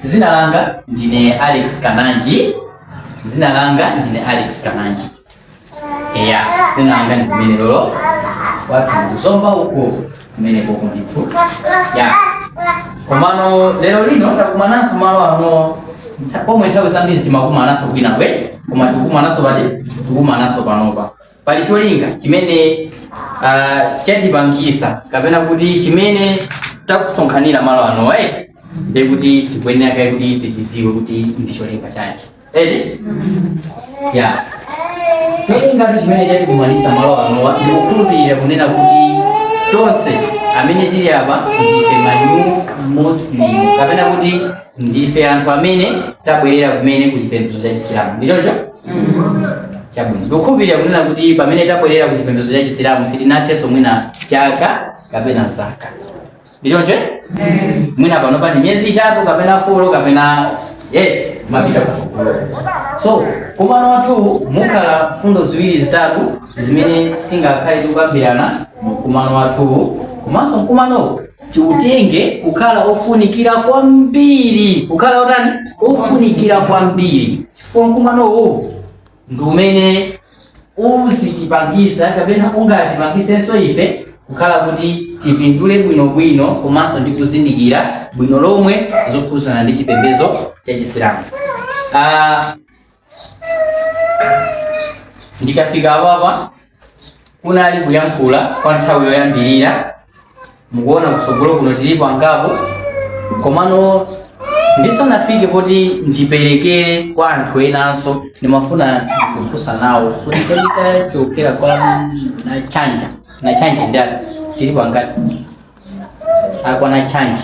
Zina langa ndine Alex Kananji. Zina langa ndine Alex Kananji. Eya, zina langa ndi limenelo. Kwathu ku Zomba huko kumene koko ndithu. Ya. Komano lero lino takumananso malo ano pomwe nthawi zambiri timakumananso kwinakwake koma tikumananso pati tikumananso panopa pali cholinga chimene uh, chatipangisa kapena kuti chimene takusonkhanira malo anowa ndi kuti tikuyenera kaye kuti tizidziwe kuti ndi cholinga chanji eti ya cholingatu chimene chatikumanisa malo anowa ndikukhulupirira kunena kuti tonse amene tili apa ndife ma new Muslim kapena kuti ndife anthu amene tabwerera kumene ku chipembedzo cha chisilamu ndi choncho chabwino ndikukhulupirira kunena kuti pamene tabwerera ku chipembedzo cha chisilamu sitinathenso mwina chaka kapena zaka ndichoncho mwina pano patha miyezi itatu kapena folo kapena eyiti mapita kusukulu so mkumano wathu mukhala mfundo ziwiri zitatu zimene tingakhale tikukambirana mkumano wathu komanso mkumanowu tiutenge kukhala ofunikira kwambiri kukhala otani ofunikira kwambiri chifukwa mkumanowu ndi umene uzitipangisa kapena ungatipangisenso ife kukhala kuti tipindule bwinobwino komanso ndi kuzindikira bwino lomwe zokhudzana ndi chipembedzo cha chisilamu Ah, ndikafika apapa kunali kuyankhula kwa nthawi yoyambirira mukuona kutsogolo kuno tilipo angapo komano ndisanafike kuti ndiperekere kwa anthu enanso ndimafuna ndikufunsa nawo kuti kodi tachokera kwa nachanja nachanja ndi ati, tilipo angati akwa nachanja